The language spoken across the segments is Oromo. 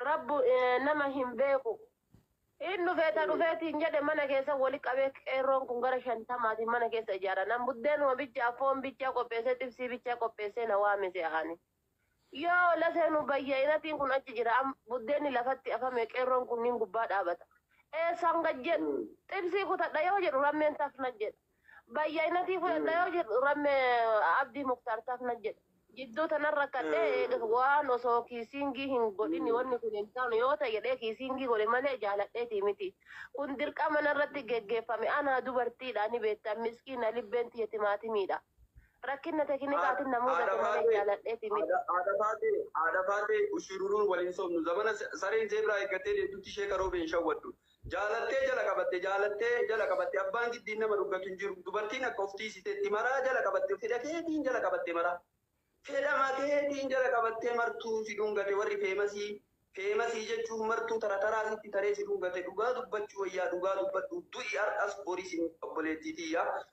Rabbu nama hin beeku. Hin dhufee ta dhufee tiin jedhe mana keessa wali qabee qeerroon kun gara shantamaatiin mana keessa ijaara. Nan buddeenuma bichaa foon bichaa qopheessee xibsii bichaa qopheessee na waame se'aani. Yoo la seenu bayya'inatiin kun achi jira am buddeenni lafatti afame qeerroon kunniin gubbaa dhaabata. Eessaan gad jedhu xibsii kutadha yoo jedhu rammeen taf na jedha. Bayya'inatii fudhadha yoo jedhu ramme abdii muktaar taaf na jedhe. Jidduu tanan rakkadhee eega waan osoo kiisiingii hin godhin wanni kun hin taanu yoo ta'e jedhee kiisiingii godhe malee jaaladheetii miti. Kun dirqama narratti geggeeffame anaa dubartiidha ni beektan miskiina libbeen tiyya timaatimiidha. Rakkinna tekinikaatiin na mudate malee jaaladheetii miti. Haadha Faatee, Haadha Faatee, Bushiruruun wal hin sobnu. Zamana sareen zeebraa eeggattee deemtutti sheeka Roobee hin shawwaddu. Jaalattee jala qabatte Jaalattee jala qabatte Abbaan giddiin nama dhuggatu hin jiru Dubartiin akka of tiisitetti Maraa jala qabatte Fedha keetiin jala qabatte Maraa fedhama keetiin jala qabattee Martuu si dhungate warri feemasii Feemasii jechuun martuu tara taraa sitti taree si dhungate Dhugaa dubbachuu wayyaa dhugaa dubbadhu Du'i har'as boris hin Obboleettii tiyya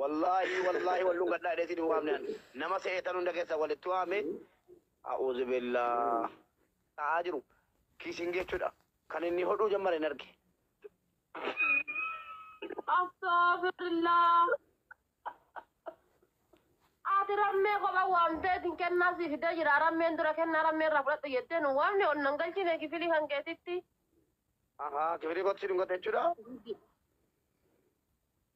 Wallahi wallahi wal dhungadha jedhee sin hin waamne an nama seetan hunda keessa walitti waame a'uzubillah ta'aa jiru kissing jechuudha kan inni hodhuu jammare hin arge Astaghfirullah. Ati rammee kopha waamtee isin kennaa si fidee jira. Rammeen dura kennaa rammee irraa fudhadhu jettee nu waamne ol nan galchine kifilii kan keetitti. ahaa kifilii kootti si dhungate jechuudha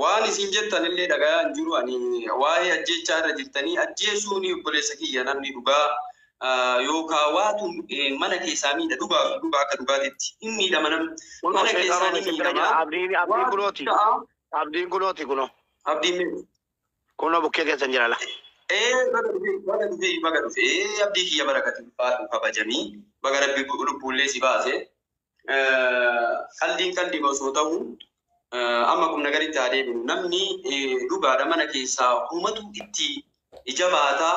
waan isin jettan illee dhagayaa hin jiru ani waa'ee ajjeechaa irra jirtanii ajjeesuun obboleessa kiyya namni dhugaa yookaan waatu mana keessaa miidha dhugaa fi dhugaa akka dhugaatitti hin miidhama namni mana keessaa ni miidhama Abdiin abdiin kunooti. Abdiin kunooti kunoo. abdiin miidhu. Kunoo bukkee keessan jira la. Ee baga dhufee baga dhufee baga dhufee abdii kiyya barakati ulfaatu kabajamii baga rabbi lubbuullee si baase qaldiin qaldiima osoo ta'u amma qubna garitti haa deebinu namni dhugaadha mana keessaa humatu itti ija baata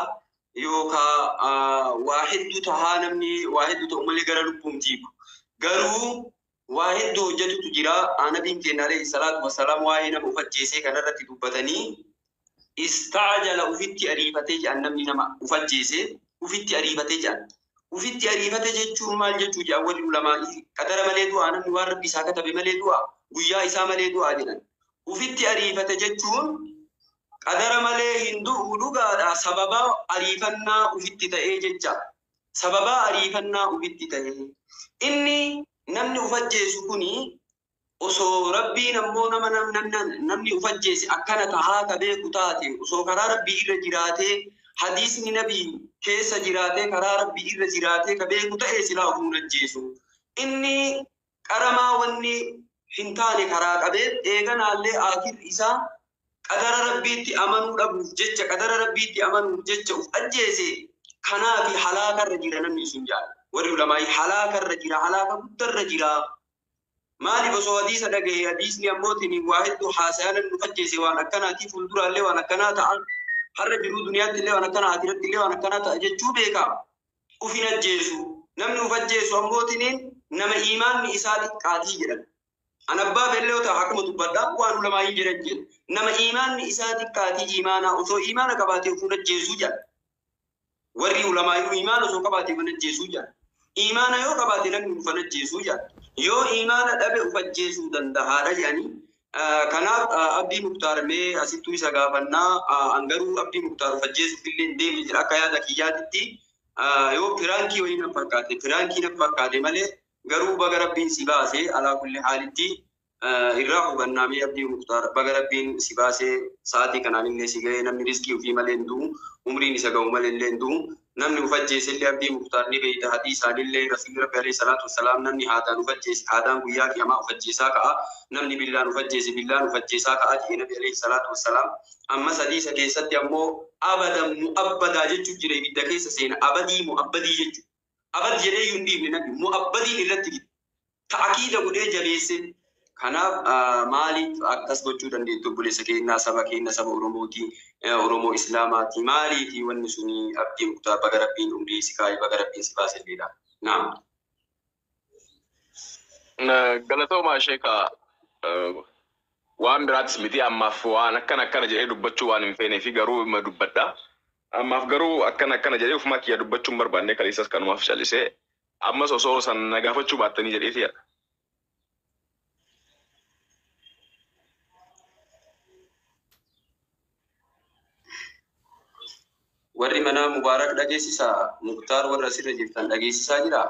yookaa waa hedduu tahaa namni waa hedduu ta'u malee gara lubbuun jiibu garuu waa hedduu hojjetutu jira nabiin keenya alayhi salaatu wasalaam waa'ee nama of ajjeesee kanarratti dubbatanii Istaa jala ufitti ariifate je'an namni nama uf ajjeese ufitti ariifate je'an. Ufitti ariifate jechuun maal jechuu je'an warri ulamaa'ii qadara malee du'aa namni waan rabbi isaa katabe malee du'aa guyyaa isaa malee du'aa jedhan. Ufitti ariifate jechuun qadara malee hin du'u dhugaadha sababaa ariifannaa ufitti ta'ee jecha. Sababaa ariifannaa ufitti ta'ee. Inni namni uf ajjeesu kuni Osoo Rabbiin ammoo nama namni uf ajjeese akkana tahaa ka beeku taate, osoo karaa Rabbii irra jiraatee, hadiisni nabii keessa jiraatee karaa Rabbii irra jiraatee ka beeku ta'e silaa ufuu hin ajjeesu. Inni qaramaa wanni hin taane karaa qabee, eeganaallee aakhirri isaa qadara Rabbiitti amanuu dhabuuf jecha, qadara Rabbiitti amanuuf jecha uf ajjeese, kanaafi halaakarra jira namni sun ja'a. Warri ulamaa'ii halaakarra jira, halaaka guddarra jira Maaliif osoo hadiisa dhaga'e hadiisni ammootiin waa hedduu haasayaan nu fakkeesse waan akkanaatii fuulduraallee waan akkanaa ta'a. Har'a jiruu duniyaatti illee waan akkanaa akiratti illee waan akkanaa ta'a jechuu beekaa. Uf hin ajjeesu. Namni uf ajjeesu ammootiin nama iimaanni isaa xiqqaatii jedhan. An abbaa beellee yoo ta'e akkuma dubbadha waan ulamaayii jedhan jedha. Nama iimaanni isaa xiqqaatii iimaanaa osoo iimaana qabaatee uf hin ajjeesu jedha. Warri ulamaayuu iimaana osoo qabaate mana ajjeesuu jedhan. Iimaana yoo qabaate namni ufan ajjeesuu jedhan. Yoo iimaana dhabe uf ajjeesuu dandahaadha jedhanii. Kanaaf Abdii Muktaar mee asittuu isa gaafannaa an garuu Abdii Muktaar uf ajjeesuuf illee hin deemne jira akka yaada kiyyaatitti yoo piraankii wayii nan fakkaate piraankii nan fakkaate malee garuu baga rabbiin si baase alaa kulli haalitti irraa hubannaa mee abdii muktaar baga rabbiin si baasee sa'aatii kanaan illee si ga'ee namni riskii ofii malee hin du'u umriin isa ga'u malee illee hin du'u namni uf ajjeese illee abdii muktaar ni beeyta hadiisaan illee rasuulli rabbi alayhi salaatu wassalaam namni haadaan uf ajjeese haadaan guyyaa qiyamaa uf ajjeesaa ka'a namni billaan uf ajjeese billaan uf ajjeesaa ka'a jedhe nabi alayhi salaatu wassalaam amma sadiisa keessatti ammoo abadan mu'abbadaa jechu jira ibidda keessa seena abadii mu'abbadii jechu Abad jedheeyyuu hin dhiifne nabi immoo abbadiin irratti fide. Ta'akiida godhee jabeesse. Kanaaf maaliif akkas gochuu dandeetti obboleessa keenya saba keenya saba Oromooti Oromoo Islaamaati maaliifi wanni suni Abdii Muktaar baga Rabbiin umrii si kaa'e baga Rabbiin si baase jedha. Naam. Galatoomaa sheeka waan biraatis miti ammaaf waan akkana akkana jedhee dubbachuu waan hin feeneefi garuu ima dubbadha. Ammaaf garuu akkana akkana jedhee ofumaa kiyyaa dubbachuu hin barbaanne kaleessas kanumaaf callisee ammas osoo san na gaafachuu baattanii jedheeti yaada. Warri manaa Mubaarak dhageessisaa? Muktaar warra asirra jirtan dhageessisaa jiraa?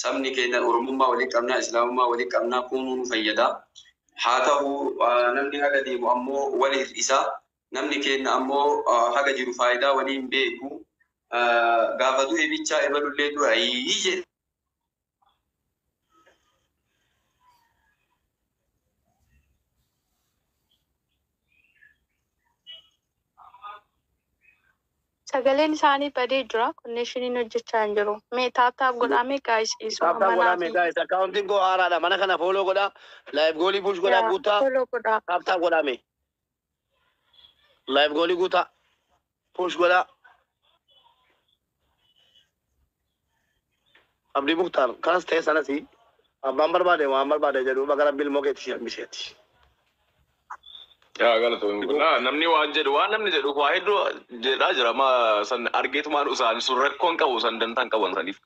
Sabni keenya Oromummaa waliin qabna, Islaamummaa waliin qabna, kunuu nu fayyada. Haa tahu namni haga deemu ammoo wal hir'isa. Namni keenya ammoo haga jiru faayidaa walii hin beeku. Gaafa du'e bichaa ebalullee du'e ayii jedha. Sagaleen isaanii badee jira connection hojjechaa hin jiru mee tap tap godhaa mee guys dhiisuu Tap tap amma godhaa mee naafii. guys account koo haaraadha mana kana follow godhaa live goolii push godhaa yaa guuttaa follow godhaa. tap tap godhaa mee live goolii guuttaa push godhaa Abdii muktaar kanas ta'e sanasi abbaan barbaade waan barbaade jedhu baga rabbi ilmoo keetti si hambiseeti. Yaa galatoomi kun naa namni waan jedhu waan namni jedhu waa hedduu jedhaa jira ma san argeetumaan usaan sun rakkoon qabu san dantaan qaban saniif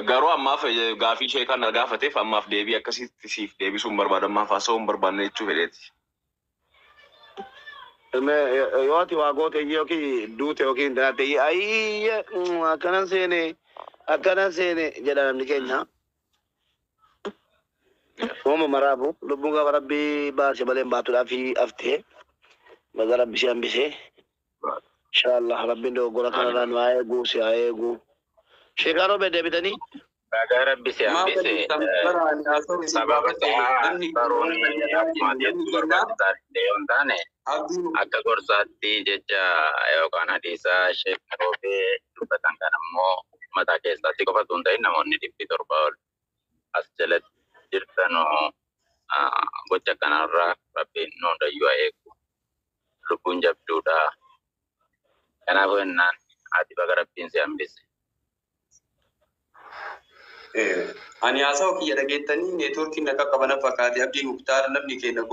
garuu ammaaf eh, gaafii sheekaan na gaafateef ammaaf deebii akkasitti siif deebisuu hin barbaadu ammaaf haasa'uu hin barbaanne jechuu fedheeti. Me yoo ati waa goote iyyee yookiin duute yookiin dhalate iyyee ayyee mm, akkanan seene akkanan seene jedha namni keenya. Uuma maraafu lubbuun gaafa rabbii baase malee hin baatudhaa fi haftee baga rabbi si hambisee. Insha Allah Rabbiin dogoggora kanarraa nu haa eegu si haa eegu. Sheekaa Roobee deebitanii? Bagaa rabbi si hambise sababa ta'aa baroon akkuma deemtu barbaachisaa ta'e yoo hin taane akka gorsaatti jecha yookaan hadiisaa sheekni roobee dubbatan kan ammoo mataa keessaa si qofa osoo hin ta'in namoonni dhibbi torba ol as jalatti jirta nu gocha kanarraa rabbiin nu hundayyuu haa eegu lubbuun jabduudha kanaafuu jennaan ati baga rabbiin si hambise Ani haasawa kiyya dhageettanii neetwoorkiin na qaqqaba na fakkaate Abdii Muktaar namni keenya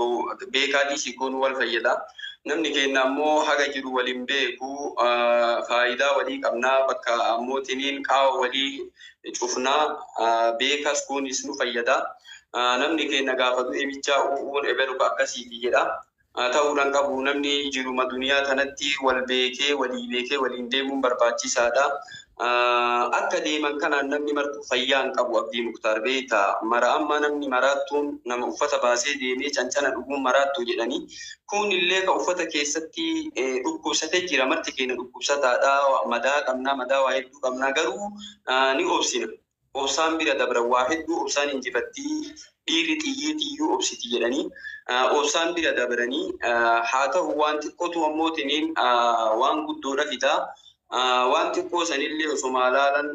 beekaa dhiisii goonu wal fayyada. Namni keenya ammoo haga jiru wal hin beeku faayidaa walii qabna bakka ammootiniin qaawa walii cufna beekas kunis nu fayyada namni keenya gaafa du'e bichaa uu'uun ebelu ka akkasiiti jedha ta'uudhaan qabu namni jiruma duniyaa tanatti wal beekee walii beekee waliin deemuun barbaachisaadha akka deeman kanaan namni martuu fayyaa hin qabu abdii muktaar beeyta mara amma namni maraattuun nama uffata baasee deemee cancana dhuguun maraattuu jedhanii kun illee ka uffata keessatti dhukkubsate jira marti keenya dhukkubsataadha madaa qabnaa madaa waa'ee hedduu qabna garuu ni obsina. Obsaan bira dabra waa hedduu obsaan injifattii dhiirri xiyyiitiyyuu obsiti jedhanii obsaan bira dabranii haa ta'u waan xiqqootu ammoo tiniin waan guddoodha fidaa. Waan xiqqoo sanillee osoma laalan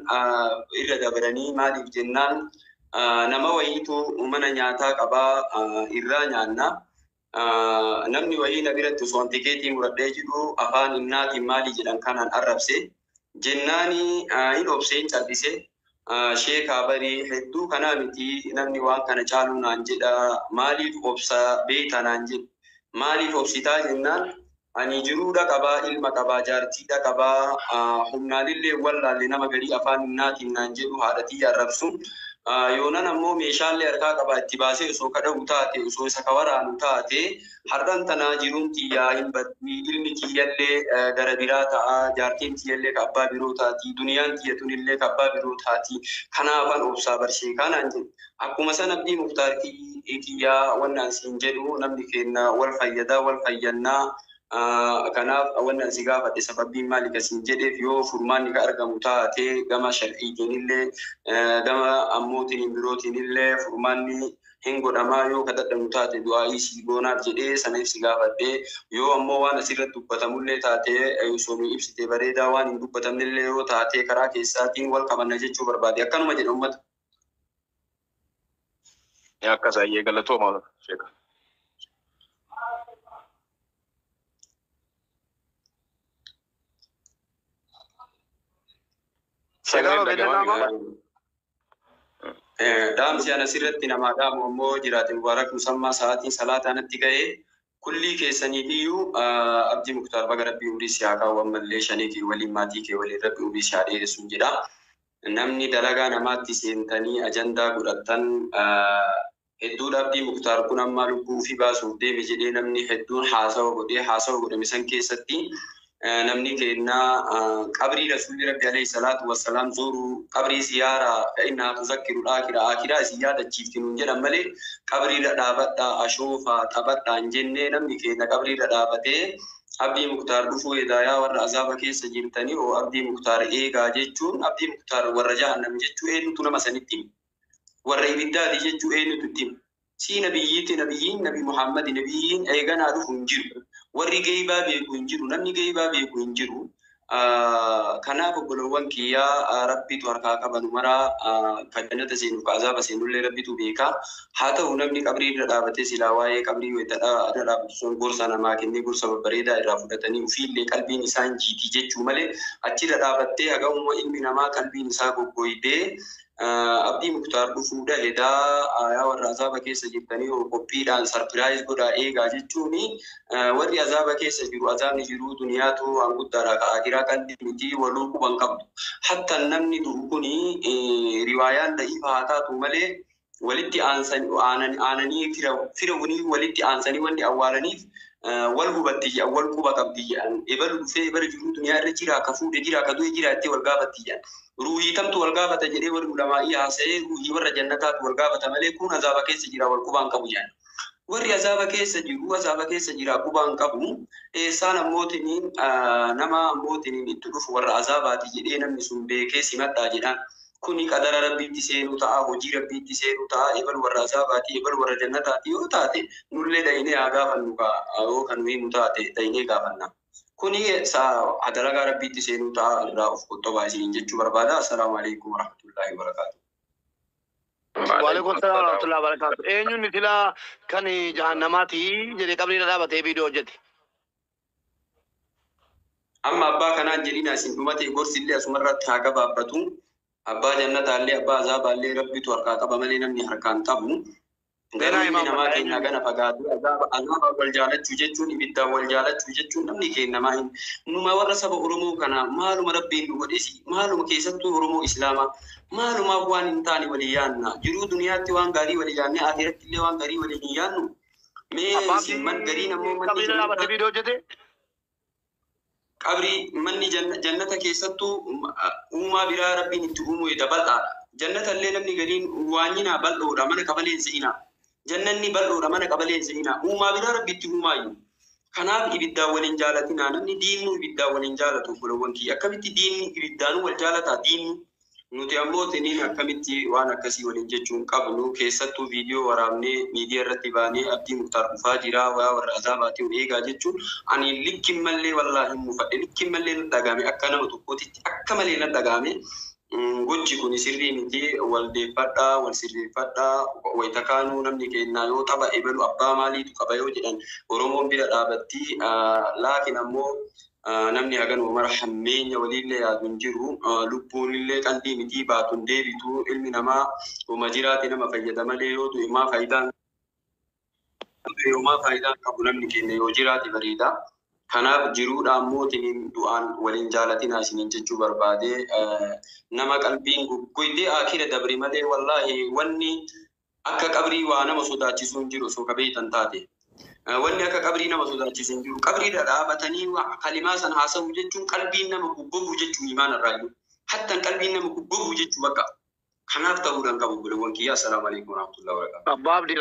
irra dabranii maaliif jennaan nama wayiitu mana nyaataa qabaa irraa nyaanna. Namni wayii na biratti osoon tikeetii muradhee jiru afaan innaatiin maalii jedhan kanaan arrabse. Jennaani hin obse hin cal'ise. Sheekaa bari hedduu kanaa miti namni waan kana caaluu naan jedha. Maaliif obsa beeyta naan jedhe. Maaliif obsitaa jennaan Ani jiruudha qaba, ilma qaba, jaartiidha qaba, humnaanillee hin wallaalle nama garii afaan humnaatiin naan jedhu haadha tiyya arrabsu. Yoonan ammoo meeshaallee harkaa qaba itti baasee osoo ka dhawu taate, osoo isa ka waraanu taate har'an tana jiruun tiyya hin baddi, ilmi kiyyallee gara biraa ta'a, jaartiin tiyyallee ka abbaa biroo taati, duniyaan tiyya tunillee ka abbaa biroo taati, kanaafan obsaa bar sheekaa naan jedhe. Akkuma san Abdii Muktaar kiyyaa wanni an siin jedhu namni keenna wal fayyada wal fayyanna kanaaf wanni an si gaafadhe sababbiin maali ka siin jedheef yoo furmaanni ka argamu taate gama shar'iitiinillee gama ammootiin birootiinillee furmaanni hin godhamaa yoo ka dadhabnu taate du'aa'ii sii goonaaf jedhee saniif si gaafadhe yoo ammoo waan asirratti dubbatamullee taate osoo nu ibsite bareedaa waan hin dubbatamnellee yoo taate karaa keessaatiin wal qabanna jechuu barbaade akkanuma jedha ummata. Akkas ayyee galatooma sheeka. Sagaleen dhaga'amaa Dhaamsi anas irratti namaa dhaamu ammoo jiraate Mubaarak Musammaa sa'aatiin salaataa natti ga'ee Kullii keessaniifiyyuu Abdii muktaar baga rabbii umrii si haa kaa'u ammallee shanee kee waliin maatii kee waliin rabbi umrii si haa dheeressun jedha namni dalagaa namaatti seentanii ajandaa godhattan hedduudha Abdii muktaar kun ammaa lubbuu ufii baasuuf deeme jedhee namni hedduun haasawa godhe haasawa godhame san keessatti namni keenna qabrii rasuulli rabbi alayhi salaatu wassalaam zuuru qabrii siyaara fa innahaa tuzakkiru aakira aakiraa isin yaadachiifti nuun jedhan malee qabriirra dhaabadha ashoofa taphadha hin jenne namni keenna qabriirra dhaabatee abdii muktaar dhufuu eegaa yaa warra azaaba keessa jirtanii oo abdii muktaar eegaa jechuun abdii muktaar warra jahannam jechuu eenyutu nama sanitti hima warra ibiddaati jechuu eenyutu itti hima Sii nabiyyiitti nabiyyiin nabi muhammadi nabiyyiin eeganaa dhufu hin jiru warri geeybaa beeku hin jiru namni geeybaa beeku hin jiru kanaaf obbolowwan kiyyaa rabbitu harkaa qaba nu maraa ka jannata seenuf ka azaaba seenullee rabbitu beeka haa ta'u namni qabrii irra dhaabatee silaa waa'ee qabrii wayta irra dhaabatu san gorsa namaa kennee gorsa babbareedaa irraa fudhatanii ufiillee qalbiin isaan jiitii jechuu malee achirra dhaabattee hagahuma ilmi namaa qalbiin isaa goggoydee Abdii Muktaar dhufuudha hedaa aayaa warra azaaba keessa jirtanii hoo qophiidhaan sarpiraayiz godhaa eegaa jechuun warri azaaba keessa jiru azaabni jiruu duniyaatu waan guddaadha ka akiraa qalli miti waluu quban qabdu. Hatta namni du'u kuni riwaayaan da'iifa haa taatu malee walitti aananii fira wanii walitti aansanii wanni awwaalaniif wal hubatti jedhan wal quba qabdi jedhan ebalu dhufee ebala jiruu duniyaa irra jira ka fuudhe jira ka du'e jira jettee wal gaafatti jedhan ruuhii tamtu wal gaafata jedhee warri ulamaa'ii haasa'ee ruuhii warra jannataatu wal gaafata malee kun azaaba keessa jira wal qubaan qabu jedhan warri azaaba keessa jiru azaaba keessa jira qubaan qabu eessaan ammootiniin nama ammootiniin itti dhufu warra azaabaati jedhee namni sun beekee simadhaa jedhan kuni qadara Rabbiitti seenuu ta'a, hojii Rabbiitti seenuu ta'a, ebal warra azaabaati, ebal warra jannataati yoo taate nullee dhaynee haa gaafannu kaa yoo ka nu himu taate dhaynee gaafanna. Kuni sa dalagaa Rabbiitti seenuu ta'a irraa of qoxxobaa isiniin jechuu barbaada. Assalaamu aleykum warahmatullaahi wabarakaatuh. Waaleykum salaam warahmatullahi wabarakatuh. Eenyunni silaa kan jahannamaati jedhe qabrii irra dhaabate viidiyoo hojjete. Amma abbaa kanaan jedhina isin dhumatee gorsi illee asuma irratti haa gabaabbatu. Abbaa jannataa illee abbaa azaabaa illee rabbitu harkaa qaba malee namni harkaan qabu. Garuu ilmi namaa keenyaa gana fagaatee azaaba azaabaa wal jaalachuu jechuun ibiddaan wal jaalachuu jechuun namni keennamaa hin numa warra saba Oromoo kana maaluma rabbiin nu godhesi maaluma keessattuu Oromoo Islaamaa maalumaaf waan hin taane walii yaanna jiruu duniyaatti waan gaarii walii yaannee aakiratti illee waan gaarii walii hin yaannu Mee Abbaa isin Abdii man gariin ammoo manni qabiila laa battee jannataa viidiyoo hojjete. qabrii manni janna- jannata keessattuu um, a- uumaa biraa rabbiin itti uumuu eda bal'aadha. Jannata illee namni gariin waanyinaa bal'oodha mana qabalee hin se'inaa. Jannanni bal'oodha mana qabalee hin se'inaa. Uumaa biraa rabbi itti uumaayyuu. Kanaaf ibiddaan wal hin jaalatinaa. Namni diinnu ibiddaan wal hin jaalatu obbolowwan kiyya. Akkamitti diinni ibiddaanuu wal jaalataa diinni? Nuti ammoo tiniin akkamitti waan akkasii waliin jechuu hin qabnu keessattuu viidiyoo waraabnee miidiya irratti baanee Abdii Muktaar dhufaa jiraa yaa warra Azaabaatii of eegaa jechuun ani likki mallee wallaahi mufadhe likki mallee natti dhagahame akka nama tokkootitti akka malee natti dhagahame gochi kuni sirrii miti wal deeffadhaa wal sirreeffadhaa wayta kaanuu namni keennaa yoo tapha ebalu abbaa maaliitu qaba yoo jedhan Oromoon bira dhaabattii laakiin ammoo Namni haganuma mara hammeenya waliillee yaadu hin jiru. Lubbuunillee qaldii mitii baatu hin deebitu. Ilmi namaa homa jiraate nama fayyada malee yoo du'e homaa faayidaa hin qabu. Homaa faayidaa hin qabu namni keenna yoo jiraate bareeda. Kanaaf jiruudhaan mootiniin du'aan wal hin jaalatinaa isiniin jechuu barbaade. Nama qalbiin goggoyde aakira dabre malee wallaahi wanni Akka qabrii waa nama sodaachisuu hin jiru osoo ka beeytan taate. Wanni akka qabrii nama sodaachisu hin jiru. Qabrii irra dhaabatanii wa kalimaa san haasawuu jechuun qalbiin nama goggoguu jechuu iimaana irraa iyyuu. Hattan qalbiin nama goggoguu jechuu bakka. Kanaaf ta'uu dha hin qabu obboleewwan kiyyaa. Assalaamu Aleeykum Warahmatullahi Wabarakaatuh. Abbaa Abdii.